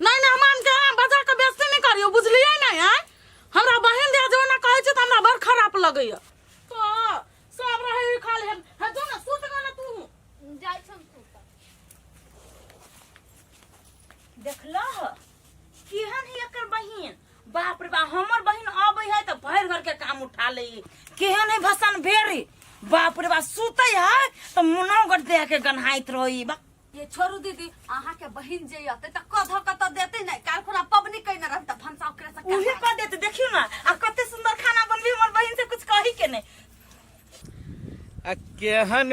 नहीं नहीं हमान के यहाँ बजा के बेसी नहीं करियो बुझलिए नहीं है हमरा बहन दिया जो ना कहे छै त हमरा बड़ खराब लगे या तो सब रहे ही खाली है है जो ना सुत गए ना तू जाइ छम सुत देखला ह केहन है एकर बहिन बाप रे बाप हमर बहिन अबै है त भर घर के काम उठा ले केहन है भसन भेरी बाप रे बाप सुतै है त मुनो गट दे के गन्हाइत रही बा ये छोरू दीदी अहाँ के बहिन जे अते त कध कत देते नै काल खुना पबनी कइने रहत त भनसा ओकरे से उहे काहे? कह देते देखियो ना आ कते सुंदर खाना बनबी हमर बहिन से कुछ कही के नहीं आ केहन